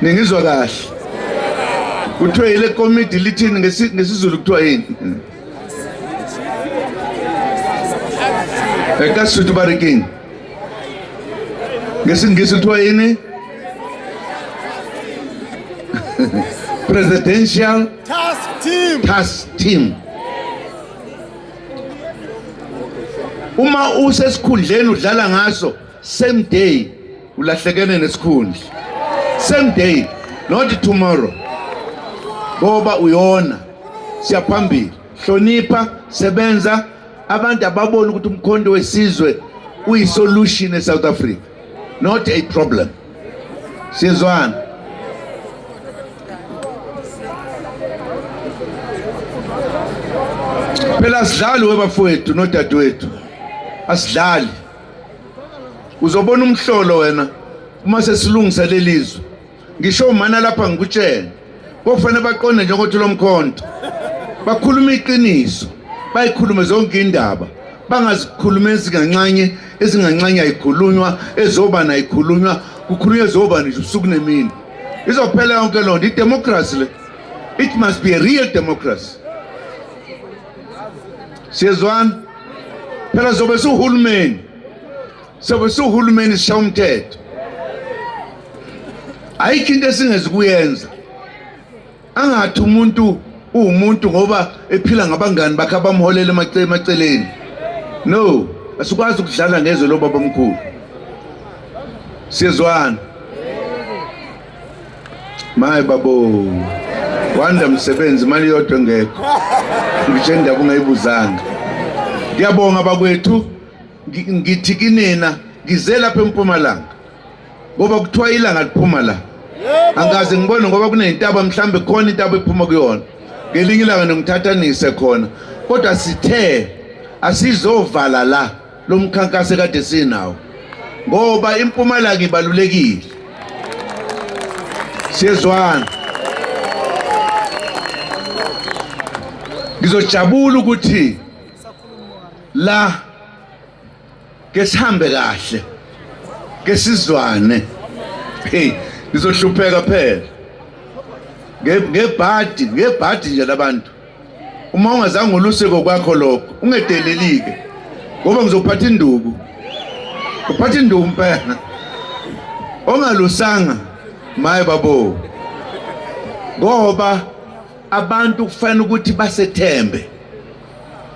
ningizwa kahle kuthiwa yile komidi lithini ngesizulu kuthiwa yini ekasutu barikini ngesingisi kuthiwa yini presidential task team, task team. uma usesikhundleni udlala ngaso same day ulahlekene nesikhundla same day not tomorrow ngoba uyona siyaphambili hlonipha sebenza abantu ababona ukuthi umkhondo wesizwe uyisolution eSouth Africa not a problem sizwana phela sidlali webafowethu nodadewethu asidlali uzobona umhlolo wena uma sesilungisa lelizwe ngisho umana lapha ngikutshela kofanele baqonde njengokuthi lo mkhonto bakhuluma iqiniso bayikhulume zonke indaba bangazikhuluma ezinganxanye ezinganxanye ayikhulunywa ezobani ayikhulunywa kukhulunywa ezobani nje ubusuku nemini izophela yonke loo nto idemokhrasi le it must be a real democracy siyezwana phela zobe siwuhulumeni sobe siwuhulumeni sisha umthetho ayikho into esingezi kuyenza angathi umuntu uwumuntu ngoba ephila ngabangani bakhe abamholela emaceleni no asikwazi ukudlala ngezwe lobaba omkhulu siyezwana maye babo wanda msebenzi imali yodwa engekho ngisho indaba ungayibuzanga ngiyabonga bakwethu ngithi kinina ngize lapha empumalanga ngoba kuthiwa ilanga liphuma la angaze ngibone ngoba kuneyintaba mhlambe khona intaba ephuma kuyona ngelinye ilanga nongithathanise khona kodwa sithe asizovala la lo mkhankaso ekade sinawo ngoba impumalanga ibalulekile siyezwana ngizojabula ukuthi la ke sihambe kahle ke sizwane hey ngizohlupheka phela ngebhadi ngebhadi nje labantu uma ungazange ulusiko kwakho lokho ungedelelike ngoba ngizophatha induku uphatha induku mpela ongalusanga maye babo ngoba abantu kufanele ukuthi basethembe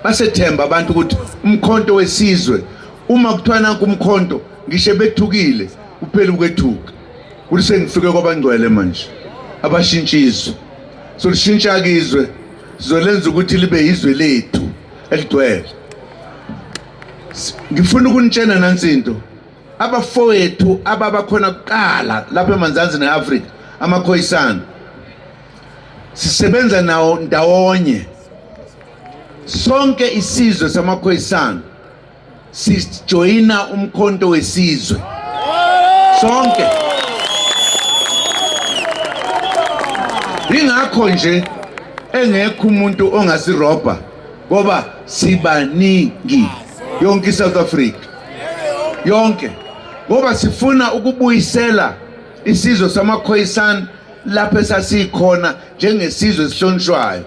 basethemba abantu ukuthi umkhonto wesizwe uma kuthiwa nanku umkhonto ngisho bethukile uphele ukwethuka kuthi sengifike kwabangcwele manje abashintshizwe solishintsha kizwe sizolenza ukuthi libe yizwe lethu eligcwele ngifuna ukunitshena nansi into abafowethu ababa khona kuqala lapha eManzansi neAfrika amakhoyisana sisebenza nawo ndawonye sonke isizwe samakhoyisana sijoyina umkhonto wesizwe sonke ingakho nje engekho umuntu ongasirobha ngoba sibaningi yonke iSouth Africa yonke ngoba sifuna ukubuyisela isizwe samakhoyisana lapho esasikhona njengesizwe esihlonishwayo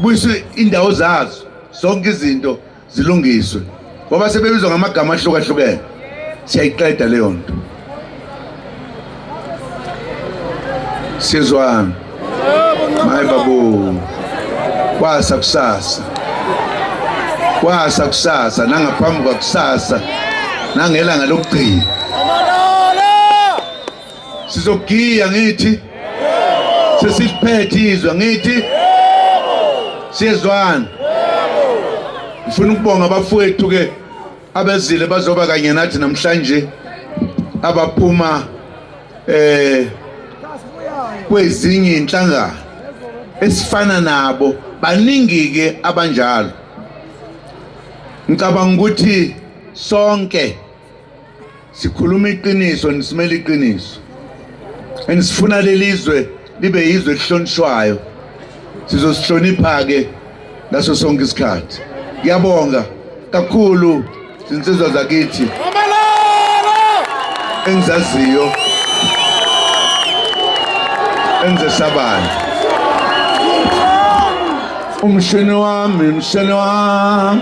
buyisa indawo zazo zonke izinto zilungiswe ngoba sebebizwa ngamagama ahlukahlukene siyayiqeda leyo nto sizwani mayi babu kwasa kusasa kwasa kusasa nangaphambi kwakusasa nangelanga lokugcina sizogiya ngithi sesiphethe izwe ngithi siyezwana ngifuna ukubonga abafowethu ke abezile bazoba kanye nathi namhlanje abaphuma eh kwezinye inhlangano esifana nabo baningi ke abanjalo ngicabanga ukuthi sonke sikhuluma iqiniso nisimela iqiniso and sifuna lelizwe libe yizwe elihlonishwayo sizosihlonipha-ke ngaso sonke isikhathi ngiyabonga kakhulu zinsizwa zakithi engizaziyo engizesabayo umshini wami mshini wami